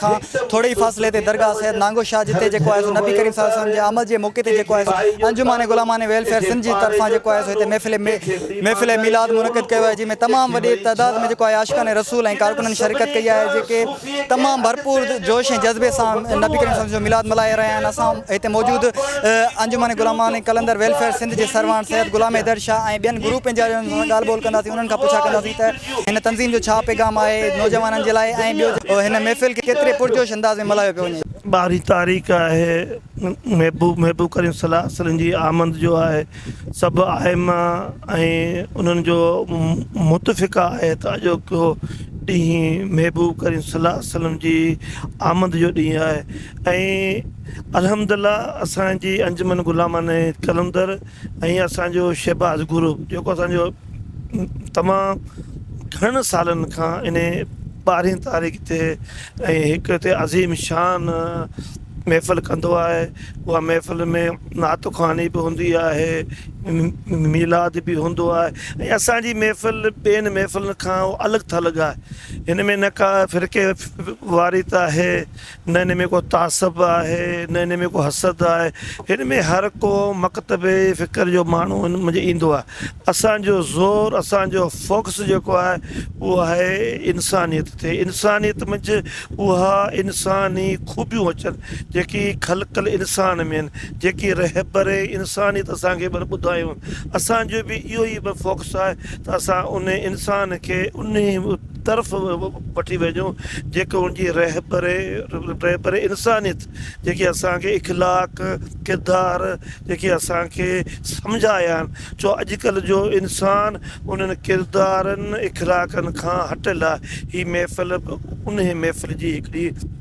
کان ٿوري ئي فاصلي تي درگاهه سيد نانگو شاهه جتي جيڪو آهي سو نبي ڪريم صلي الله عليه وسلم جي آمد جي موقعي تي جيڪو آهي سو انجمن غلامان ويلفيئر سنڌ جي طرفان جيڪو آهي سو هتي محفل محفل ميلاد منعقد ڪيو آهي جنهن ۾ تمام وڏي تعداد ۾ جيڪو آهي عاشقان رسول ۽ ڪارڪنن شرڪت ڪئي آهي جيڪي تمام ڀرپور جوش ۽ جذبي سان نبي ڪريم صلي الله عليه وسلم جو ميلاد ملهائي رهيا آهن اسان هتي موجود انجمن غلامان قلندر ويلفيئر سنڌ جي سرواڻ سيد غلام حيدر شاهه ۽ ٻين گروپن جا ڳالهه ٻولهه ڪنداسين انهن کان پڇا ڪنداسين ته هن تنظيم جو ڇا پيغام آهي نوجوانن جي لاء ۽ ٻيو جو هن محفل کي ڪيتري پرجوش انداز ۾ ملهايو پيو وڃي. ٻارهين تاريخ آهي محبوب محبوب ڪريم صلي الله عليه وسلم جي آمد جو آهي سڀ آئمه ۽ انهن جو متفقه آهي ته اڄوڪو ڏينهن محبوب ڪريم صلي الله عليه وسلم جي آمد جو ڏينهن آهي ۽ الحمد الله اسان جي انجمن غلامان قلندر ۽ اسان جو شهباز گروپ جيڪو اسان جو تمام گهڻن سالن کان ان ٻارهين تاريخ تي ۽ هڪ هتي عظيم شان محفل ڪندو آهي اها محفل ۾ نعت خواني به هوندي آهي ميلاد به هوندو آهي ۽ اسانجي محفل ٻين محفلن کان الڳ ٿلڳ آهي هن ۾ نه ڪا فرقي واريت آهي نه هن ۾ ڪو تعصب آهي نه هن ۾ ڪو حسد آهي هن ۾ هر ڪو مڪتب فڪر جو ماڻهو هن منجهه ايندو آهي اسان جو زور اسان جو فوڪس جيڪو آهي اهو آهي انسانيت تي انسانيت منجهه اها انساني خوبيون اچن جيڪي خلق الانسان ۾ آهن جيڪي رهبر انسانيت اسان کي ٻڌايون اسان جو به اهو ئي فوڪس آهي ته اسان ان انسان کي انهي طرف وٺي وڃو جيڪو ان جي رهبري انسانيت جيڪي اسان کي اخلاق ڪردار جيڪي اسان کي سمجهايا آهن ڇو اڄ ڪلهه جو انسان انهن ڪردارن اخلاقن کان هٽيل آهي هي محفل انهي محفل جي هڪڙي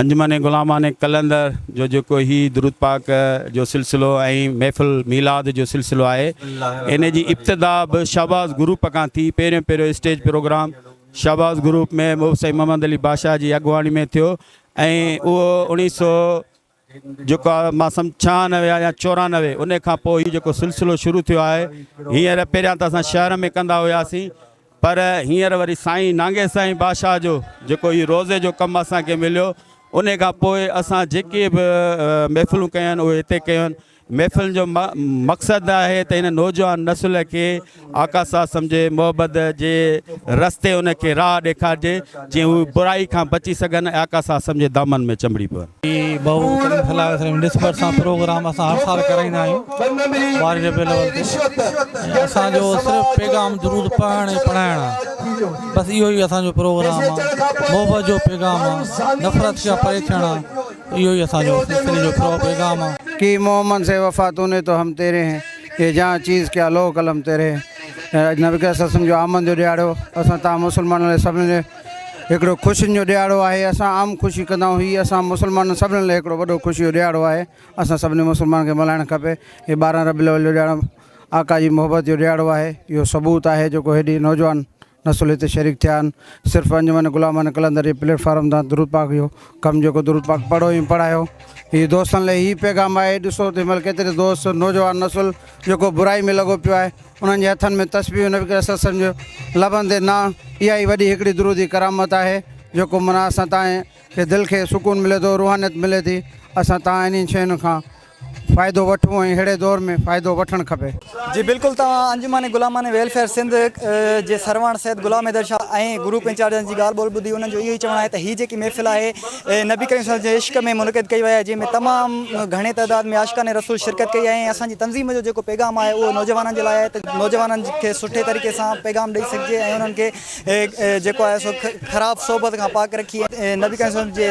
انجمن غلامان قلندر جو جيڪو هي درود پاڪ جو سلسلو ۽ محفل ميلاد جو سلسلو آهي ان جي ابتدا به شهباز گروپ کان ٿي پهريون پهريون اسٽيج پروگرام شهباز گروپ ۾ مئو سائين محمد علي بادشاهه جي اڳواڻي ۾ ٿيو ۽ اهو اوڻيهه سو جيڪو مان سمجھ ڇهانوي آهي يا چورانوي ان کان پوء هي جيڪو سلسلو شروع ٿيو آهي هينئر پهريان ته اسان شهر ۾ ڪندا هياسين پر هينئر وري سائين نانگي سائين باشاهه جو جيڪو هي روضي جو ڪم اسان کي مليو انهي کان پوء اسان جيڪي به محفلون ڪيون آهن اهي هتي ڪيون. محفلن جو مقصد آهي ته هن نوجوان نسل کي آقا صاحب سمجهي محبت جي رستي ان کي راهه ڏيکارجي. جيئن هو برائي کان بچي سگهن ۽ آقا صاحب وسلم جي دامن ۾ چنبڙي پون. پير بهو ڪريم صلي الله عليه وسلم جي نسبت سان پروگرام اسان هر سال ڪرائيندا آهيون ٻارهين ربيع الاول تي ۽ اسان جو صرف پيغام درود پڙهڻ ۽ پڙهائڻ آهي بس اهو ئي اسان جو پروگرام آهي محبت جو پيغام آهي نفرت کان پري ٿيڻ آهي اهو ئي اسان جو سلسلي جو پرو پيغام آهي. ڪي محمد سي وفا تو ني تو هم تيري هين، يي جهان چيز ڪيا لوه قلم تيري هين. ۽ اڄ نبي ڪريم صلي الله عليه وسلم جي آمد جو ڏهاڙو اسان تهان مسلمانن لاء سڀني لاء هڪڙو خوشين جو ڏهاڙو آهي اسان عام خوشي ڪندا آهيون هي اسان مسلمانن سڀني لاء هڪڙو وڏو خوشي جو ڏهاڙو آهي اسان سڀني مسلمانن کي ملهائڻ کپي هي ٻارهن ربيع الاول جو ڏهاڙو آقا جي محبت جو ڏهاڙو آهي اهو ثبوت آهي جيڪو هيڏي نوجوان نسوليت تي شريڪ ٿيا آهن صرف انجمن غلامان قلندر جي پليٽ فارم تان درود پاڪ اهو ڪم جيڪو درود پاڪ پڙهو ۽ پڙهايو هي دوستن لاء هي پيغام آهي ڏسو ته هن مهل ڪيتري دوست نوجوان نسل جيڪو برائي ۾ لڳو پيو آهي انهن جي هٿن ۾ تسبيحون نبي ڪريم صلي الله عليه وسلم جي لبن تي نان اها ئي وڏي هڪڙي درود جي ڪرامت آهي جيڪو منا اسان تان کي دل کي سڪون ملي ٿو روحانيت ملي ٿي اسان تان انهن شين کان فائدو وٺون ۽ اهڙي دور ۾ فائدو وٺڻ کپي. جي بلڪل توهان انجمن غلامان ويلفيئر سنڌ جي سرواڻ سيد غلام حيدر شاھ ۽ گروپ انچارجن جي ڳالھ ٻولھ ٻڌي انهن جو اهو ئي چوڻ آهي ته هي جيڪي محفل آهي نبي ڪريم صلي جي عشق ۾ منعقد ڪئي وئي آهي جنهن ۾ تمام گهڻي تعداد ۾ عاشقان رسول شرڪت ڪئي آهي ۽ اسان جي تنظيم جو جيڪو پيغام آهي اهو نوجوانن جي لاء آهي ته نوجوانن کي سٺي طريقي سان پيغام ڏئي سگهجي ۽ انهن کي جيڪو آهي سو خراب صحبت کان پاڪ رکي نبي ڪريم صلي جي